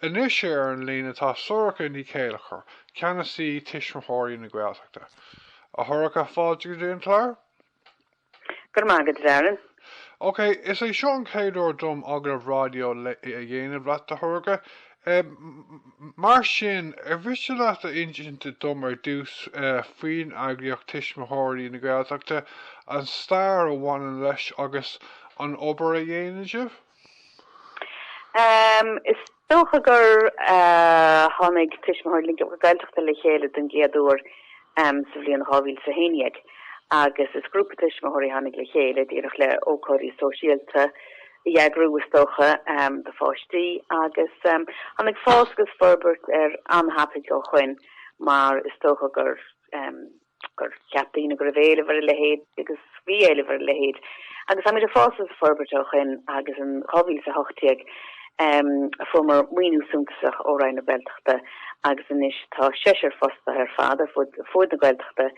Anois ar an líne tá Sorcha Ní Chéilleachair, Ceannasaí Tuismitheoirí na Gaeltachta. A Shorcha, fáilte go dtí an clár. Go raibh maith agat, a Darren. Ok, is é seo an chéad uair dom agallamh raidió a dhéanamh leat, a Shorcha. Mar sin, ar mhiste leat a insint dom ar dtús faoin eagraíocht Tuismitheoirí na Gaeltachta, an stair a bhaineann leis agus an obair a dhéanann sibh? Is dócha gur tháinig Tuismitheoirí na Gaeltachta le chéile den gcéad uair sa bhliain dhá mhíle is a haon déag agus is grúpa tuismitheoirí a tháinig le chéile díreach le ócáidí sóisialta a eagrú is dócha do pháistí agus tháinig fás agus forbairt air an-tapaidh ó shoin mar is dócha gur gur cheap daoine go raibh éileamh ar a leithéid agus bhí éileamh ar a leithéid agus táimid ag fás agus ag forbairt ó shoin agus in 2018 fuaireamar maoiniú suntasach ó Roinn na Gaeltachta agus anois tá seisear fostaithe ar fad ar fud na Gaeltachta,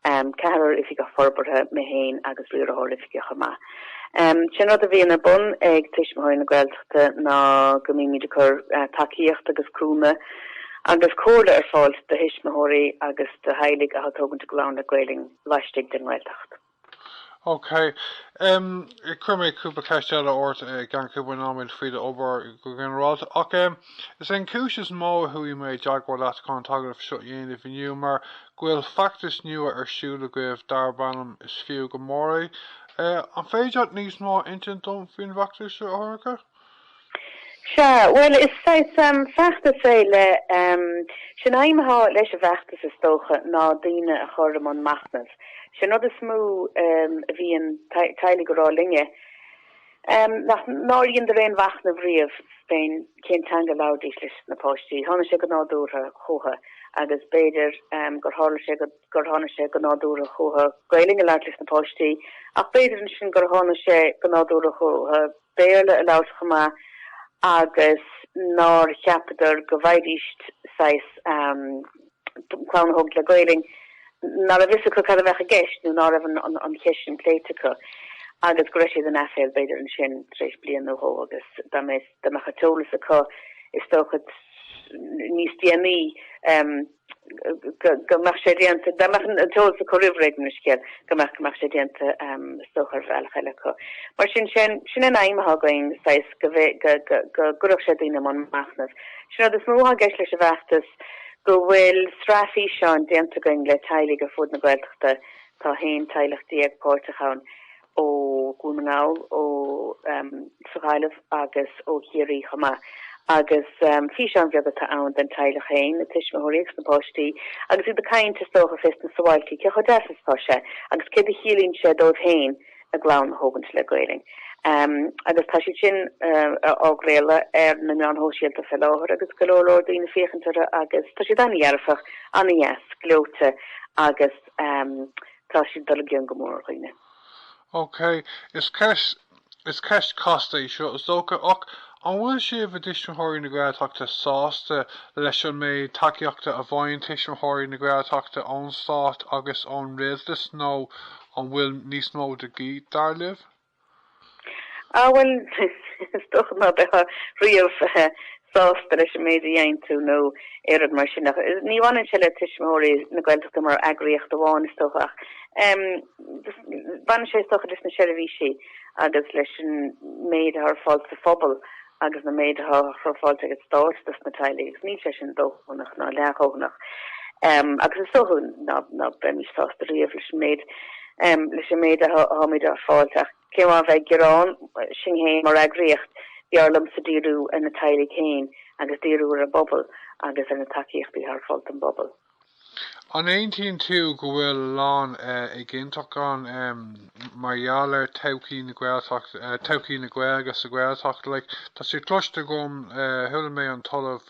ceathrar oifigeach forbartha, mé féin agus riarthóir oifige chomh maith. Sin rud a bhíonn ar bun ag Tuismitheoirí na Gaeltachta ná go mbímíd ag cur tacaíocht agus cúnamh agus comhairle ar fáil do thuismitheoirí agus do theaghlaigh atá ag tógaint a gclann le Gaelainn laistigh den nGaeltacht. Ok. Cuirfidh mé cúpla ceist eile ort i gceann cúpla nóiméad faoi do obair go ginearálta. Ach em Is é an cúis is mó a chuaigh mé i dteagmháil leat chun an t-agallamh seo a dhéanamh inniu mar go bhfuil feachtas nua ar siúl agaibh darb ainm 'Is Fiú go Mór é'. An féidir leat níos mó a insint dom faoin bhfeachtas seo, a Shorcha? Sea, bhuel, is saghas feachtas é le, sé an aidhm atá leis an bhfeachtas is dócha, ná daoine a chur i mbun machnaimh. Sé an rud is mó a bhíonn teaghlaigh ag rá linne, Nár dheineadar aon mhachnamh riamh féin cén teanga a labharfaidís leis na páistí. Tháinig sé go nádúrtha chucha agus b'fhéidir gur tharla sé gur tháinig sé go nádúrtha chucha Gaelainn a labhairt leis na páistí ach b'fhéidir ansin gur tháinig sé go nádúrtha chucha Béarla a labhairt chomh maith agus nár cheapadar go bhféadfaidís saghas clann a thógaint le Gaelainn, ná raibh a fhios acu cad a bheadh i gceist nó ná raibh an cheist sin pléite acu agus go raibh siad in aiféal b'fhéidir ansin tar éis bliain nó dhó agus dá mbeadh an t-eolas acu is dócha níos déanaí go mbeadh sé déanta, dá mbeadh an t-eolas acu roimh ré den scéal go mbeadh go mbeadh sé déanta is dócha ar bhealach eile acu. Mar sin, sin an aidhm atá againn, go gcuirfeadh sé daoine i mbun machnaimh. Sin an rud is mó atá i gceist leis an bhfeachtas. gceist go bhfuil sraith físeán déanta againn le teaghlaigh ar fud na Gaeltachta, tá 11 teaghlach páirteach ann ó Dhún na nGall, ósa Ghaillimh agus ó Chiarraí chomh maith, agus físeáin bheaga atá ann den teaghlach féin, na tuismitheoirí agus na páistí, agus iad ag caint, is dócha, fés na sabháiltí, cé chomh deas is atá sé agus céard a chiallaíonn sé dóibh féin a gclann a thógaint le Gaelainn agus tá siad sin á gcraoladh ar na meáin shóisialta fé láthair agus go leor leor daoine ag féachaint orthu agus tá siad an-dhearfach, an-deas, gleoite agus tá siad ag dul i gcion go mór ar dhaoine. Ok, is ceist chasta í seo, is dócha, ach an bhfuil sibh, i dTuismitheoirí na Gaeltachta, sásta leis an méid tacaíochta a fhaigheann Tuismitheoirí na Gaeltachta ón Stát agus ón Rialtas nó An bhfuil níos mó de dhíth, dar libh? Ah bhuel, is dócha ná beifeá riamh sásta leis an méid a dhéanann tú nó aon rud mar sin ach ní bhaineann sé le Tuismitheoirí na Gaeltachta mar eagraíocht amháin is dócha ach baineann sé is dócha leis na seirbhísí agus leis an méid atá ar fáil sa phobal agus na méid atá, atá ar fáil ag an Stát dos na teaghlaigh agus níl sé sin dóthanach ná leathdhóthanach agus is dócha ná ná beimid sásta riamh leis an méid leis an méid atháimid ag fáilt ach in ionad a bheith ag gearán sinn féin mar eagraíocht b'fhearr liomsa díriú ar na teaghlaigh féin agus díriú ar an bpobal agus ar na tacaíochtaí atá ar fáil don bpobal. An aontaíonn tú go bhfuil a lán éiginnteacht ann mar gheall ar todhchaí na Gaeltachta, todhchaí na Gaeilge sa Ghaeltacht? Like, tá sé cloiste agam, chuala mé an tOllamh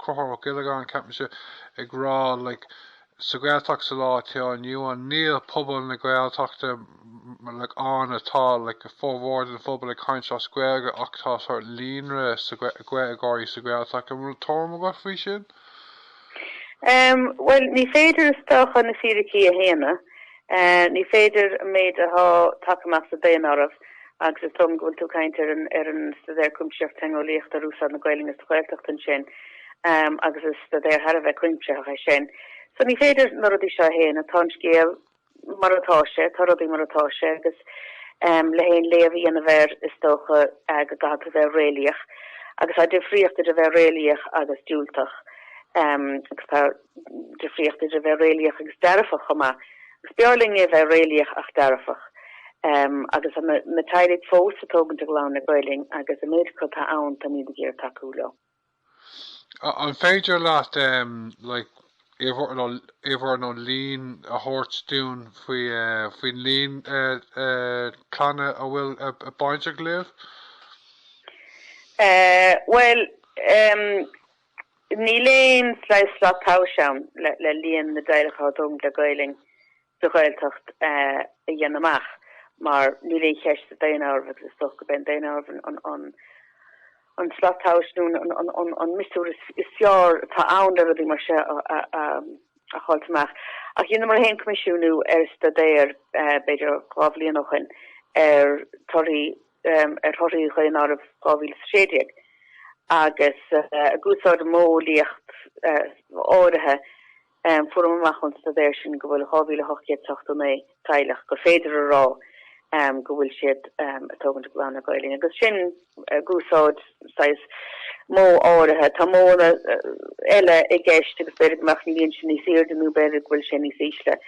Conchúr Ó Giollagáin, ceapaimse, ag rá, like, sa Ghaeltacht sa lá atá inniu ann, níl pobal na Gaeltachta, like, ann atá, like, formhór den phobal ag caint as Gaeilge ach tá sort líonra de Gaeilgeoirí sa Ghaeltacht. An bhfuil tuairim agat faoi sin? Bhuel, ní féidir is dócha na fíricí a shéanadh. Ní féidir an méid athá tagtha amach sa daonáireamh agus is dóigh liom go bhfuil tú ag caint ar an ar an Staidéar Cuimsitheach Teangeolaíochta ar Úsáid na Gaeilge sa Ghaeltacht ansin agus is staidéar thar a bheith cuimsitheach é sin. So ní féidir na rudaí seo a shéanadh. Tá an scéal mar atá sé, tá rudaí mar atá sé agus le haon léamh a dhéanamh air is dócha go gcaithfidh tú bheith réalaíoch agus tá difríocht idir bheith réalaíoch agus diúltach agus tá difríocht idir bheith réalaíoch agus dearfach chomh maith. Is b'fhearr linn a bheith réalaíoch ach dearfach agus na teaghlaigh fós ag tógaint a gclann le Gaelainn agus an méid acu atá ann táimid ag iarraidh tacú leo. An féidir leat em. like uimhir nó líon a thabhairt dúinn faoi eh. faoin líon eh. eh. clanna a bhfuil eh. bainteach libh? Eh. bhuel em. níl aon slat tomhais ann le le líon na dteaghlach atá ag tógaint le Gaelainn. sa Ghaeltacht a dhéanamh amach mar níl aon cheist sa daonáireamh agus is dócha go mbeidh an daonáireamh an slat tomhais nó an miosúr is fearr atá ann le rudaí mar seo a fháilt amach. Ach dheineamar fhéin coimisiúnú ar staidéar b'fhéidir dhá bhliain ó shoin ar torthaí, ar thorthaí dhaonáireamh 2016 agus ag úsáid modheolaíocht áirithe Fuaireamar amach ón staidéar sin go bhfuil 2,889 teaghlach gur féidir a rá go bhfuil siad ag tógaint a gclann le Gaeilge agus sin ag úsáid saghas modh áirithe. Tá modhanna eile i gceist agus b'fhéidir go mbeadh an líon sin níos aoirde nó b'fhéidir go bhfuil sé níos ísle.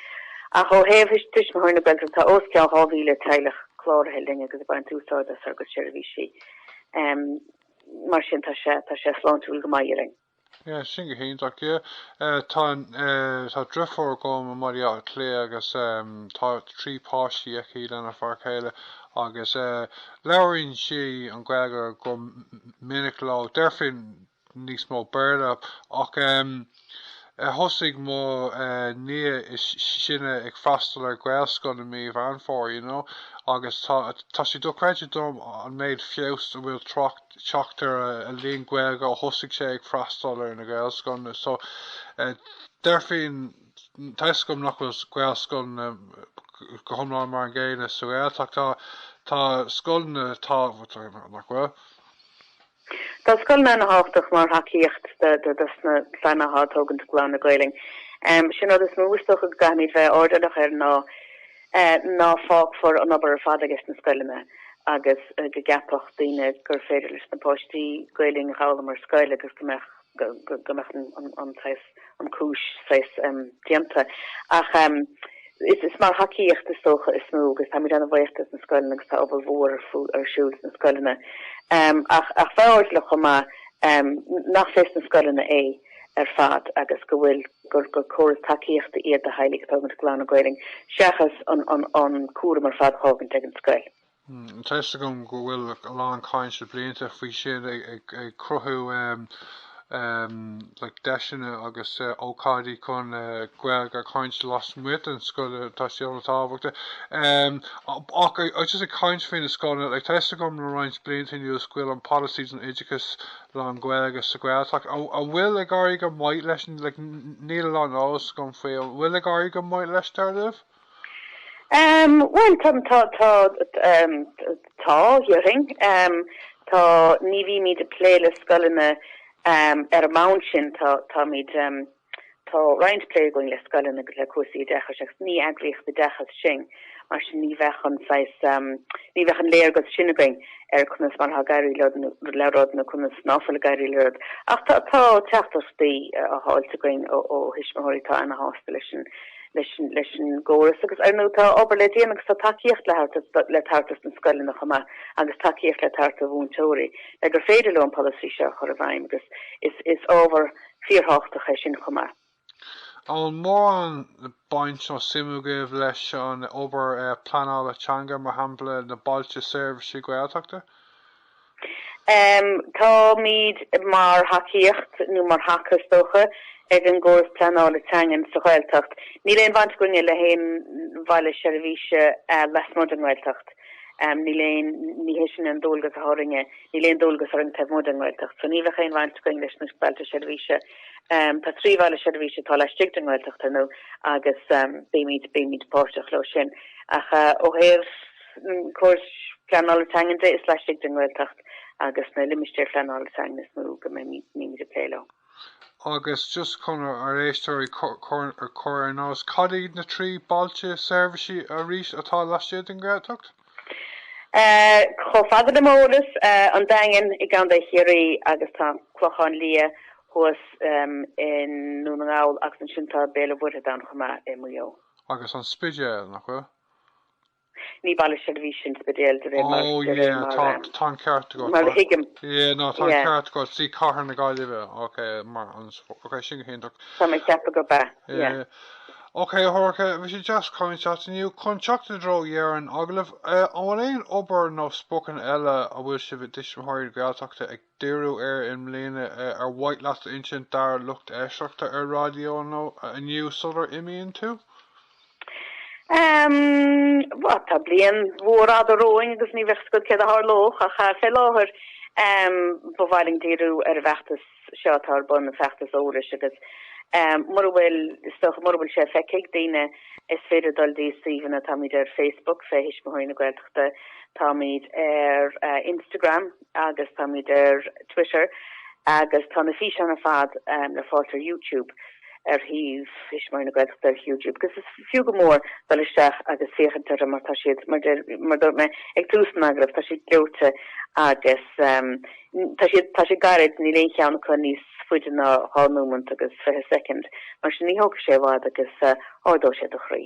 Ach ó thaobh Tuismitheoirí na Gaeltachta tá os cionn 2,000 teaghlach cláraithe linn agus ag baint úsáid as ár gcuid seirbhísí. Mar sin tá sé sláintiúil go maith, déarfainn. Yeah, sin go hiontach, yeah. Tá an, tá driofúr agam i mBaile Átha Cliath agus tá trí páistí aici lena fear céile agus labhraíonn siad Gaeilge go minic leo. Deirfinn níos mó Béarla ach thosaigh mo nia is sine ag freastal ar Gaelscoil i mí Mheán Fómhair, you know, agus tá sé dochreidte dom an méid feabhas a bhfuil trácht, teacht ar a líon Gaeilge ó thosaigh sé ag freastal ar na Gaelscoileanna. So deirfinn tá a fhios agam nach bhfuil Gaelscoileanna go hiomlán mar an gcéanna sa Ghaeltacht. Tá scoileanna atá nach bhfuil. Tá scoileanna ana thábhachtach mar thacaíocht dos na clanna atá ag tógaint a gclann le Gaolainn. Sin an rud is mó is dócha go gcaithfimíd bheith airdeallach air ná. ná fágfar an obair ar fad ages na scoileanna agus go gceapfadh daoine gur féidir leis na páistí Gaeilinn a dh'fhoghlaim ar scoil agus go mbeadh go mbeadh an saghas an chúis saghas déanta. Ach is is mar thacaíocht is dócha is mó agus táimid ana bhaoch des na scoileanna agus tá obair mhór ar siúl sna scoileanna. Ach ach bheith airdeallach chomh maith nach fés na scoileanna é. ar fad agus go bhfuil, gur córas tacaíochta iad do theaghlaigh atá ag tógaint a gclann le Gaolainn seachas an cúram ar fad a fhágaint ag an scoil. Tá fhios agam go bhfuil a lán caint le blianta faoi sin ag cruthú like deiseanna agus ócáidí chun Gaeilge a chaint lasmuigh den scoil tá sin ana thábhachtach ach just ag caint faoi na scoileanna like tá fhios agam le roinnt blianta anuas go bhfuil an polasaí don oideachas lán-Ghaeilge sa Ghaeltacht, an bhfuil ag éirí go maith leis, níl a lán eolas agam faoi, an bhfuil ag éirí go maith leis dar libh? Bhuel tá, tá, tá, tá déarfainn. Tá, ní bhímíd ag plé le scoileanna ar an mbonn sin, tá, táimid. Tá roinnt plé againn le scoileanna agus le cúrsaí oideachais agus ní eagraíocht oideachais sinn, mar sin ní bheadh an saghas, ní bheadh an léargas sin againn ar conas mar atá ag éirí leo le rud nó conas ná fuil ag éirí le rud. Ach tá teachtaireachtaí á fháilt againn ó thuismitheoirí atá ana-shásta leis an, leis an, leis an gcóras agus ar ndóigh tá obair le déanamh agus tá tacaíocht le thabhairt, le tabhairt do na scoileanna chomh maith agus tacaíocht le tabhairt do mhúinteoirí le gur féidir leo an polasaí seo a chur i bhfeidhm agus is, is ábhar a fíorthábhachtach é sin chomh maith. Aon mhórán baint nó suim agaibh leis an obair pleanála teanga, mar shampla na Bailte Seirbhíse Gaeltachta? Táimid mar thacaíocht, nó mar thaca is dócha, ag an gcóras pleanála teangan sa Ghaeltacht. Níl aon bhaint againne le haon Bhaile Seirbhíse lasmuigh den nGaeltacht. Níl aon, ní hé sin an dualgas atá orainne, níl aon dualgas orainn taobh amuigh den nGaeltacht. So ní bheadh aon bhaint againn leis na bailte seirbhíse. Tá trí bhaile seirbhíse atá laistigh den nGaeltacht ar ndóigh agus bímíd, bímíd páirteach leo sin. Ach ó thaobh an chórais Pleanála Teangan de is laistigh den nGaeltacht agus na Limistéir Phleanála Teangan is mó go mbímíd ag plé leo. Agus just chun ár éisteoirí a chur ar an eolas, cad iad na trí bailte seirbhísí arís atá laistigh den Ghaeltacht? Chomh fada le m'eolas, An Daingean i gContae Chiarraí agus tá Clochán Liath thuas i nDún na nGall agus ansin tá Béal an Mhuirthead ann chomh maith i Maigh Eo. Agus an Spidéal, nach bhfuil? Ní baile seirbhíse an Spidéal de réir mar de réir mar Oh yeah tá an ceart agat mar a thuigim. Yeah ná tá an ceart agat sí Cathair na Gaillimhe ok mar sin ok sin go hiontach. Tá mé ag ceapadh gurb ea yeah. Ok a Shorcha bhí sé deas caint leat inniu. Chun teacht i dtreo dheireadh an agallaimh, an bhfuil aon obair nó spocanna eile a bhfuil sibh i dTuismitheoirí na Gaeltachta ag díriú air i mbliana ar mhaith leat a insint dár lucht éisteachta ar Raidió na Life inniu sular imíonn tú? Bhuel, tá bliain mhór fhada romhainn agus ní bheadh 's agad céard a tharlódh ach fé láthair ba mhaith linn díriú ar an bhfeachtas seo atá ar bun, an feachtas eolais agus mura bhfuil, is dócha, mura bhfuil sé feicthe ag daoine is féidir dul dtí suíomhanna, táimíd ar Facebook fé Thuismitheoirí na Gaeltachta, táimíd ar Instagram, agus táimid ar Twitter agus tá na físeáin ar fad le fáilt ar Youtube ar shuíomh Thuismitheoirí na Gaeltachta ar Youtube agus is fiú go mór dul isteach agus féachaint orthu mar tá siad mar dúirt mé ag tús an agallamh tá siad gleoite agus tá siad tá siad gairid níl aon cheann acu níos faide ná dhá nóimint agus fiche soicind mar sin ní thógfaidh sé i bhfad agus ardóidh sé do chroí.